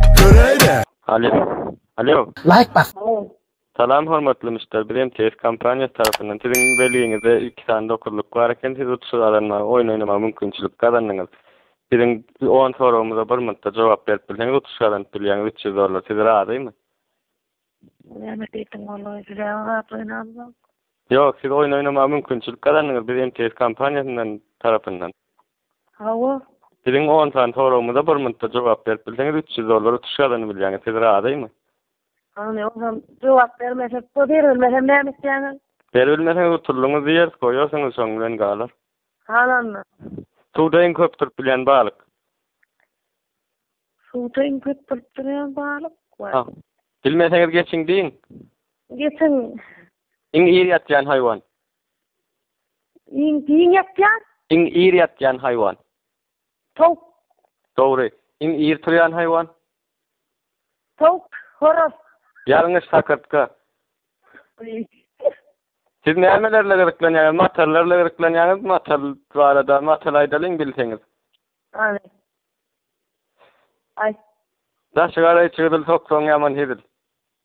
Göräýdä. Alo. Alo. Laýk bas. Salam hormatly müşder, biz MTS kompaniýasy tarapyndan siziň belgiňizde iki sany dokuzlyk bar eken, siz uçuşy gazanmaga, oýun oýnamaga mümkinçilik gazandyňyz. Biziň on soragymyza bir minutda jogap berip bilseňiz uçuş gazanyp bilýäňiz üç ýüz dollar, siz razymy? Näme diýdiň ola, size-ä zat oýnamzok. Ýok, siz oýun oýnamaga mümkinçilik gazandyňyz, biz MTS kompaniýasyndan tarapyndan. Hawa. Biziň on sany soragymyza bir minutda jogap berip bilseňiz üç ýüz dollar utuş gazanyp bilýäňiz. Siz razymy? Hany onam jogap bermesek bu ýeri bilmesem näme etýäňiz? Berip bilmeseňiz utulyňyz diýeris goýarsyňyz şoň bilen galar. Halanna. Suwda iň köp durup bilýän balyk. Suwda iň köp durup bilýän balyk. Ha. Bilmeseňiz geçiň diýiň. Geçiň. Iň ir ýatýan haýwan. Iň giň ýatýan? Iň ir ýatýan haýwan? Towuk. Dogry. Iň ir turýan haýwan? Towuk, horaz. Ýalňyş, sakyrtga. Siz näme bilen gyzyklanýaňyz? Matallar bilen gyzyklanýaňyzmy? Matal barada matal aýdalyň bilseňiz. Aý. Aý. Daşy gara içi gyzyl soksaň ýaman hezil.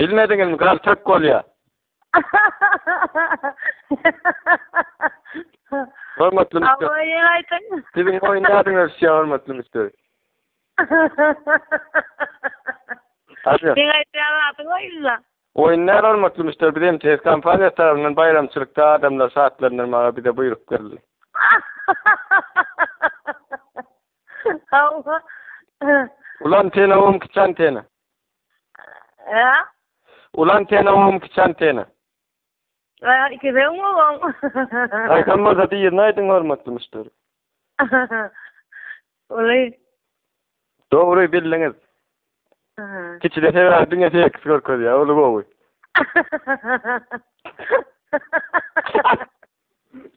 Bilmediňizmi gal tök bolýa. Hormatly müşderi. Awa ýene aýdyň. Siziň oýun nädin ösýä hormatly müşderi. Aýdyň. Sen aýdýan adyň oýunda. Oýun näde hormatly müşderi biz MTS kompaniýasy tarapyndan baýramçylykda adamlary şatlandyrmaga bize buýruk berildi. Howwa. Ulan tena wam kiçan tena. Ä? Ulan tena wam kiçan tena. Ä, iki ben wam. Aýdan bolsa diýirin aýdyň hormatly müşderi. Uly. Dogry bildiňiz. Kiçi de sebäbi diňe seks görkezýär, uly gowy.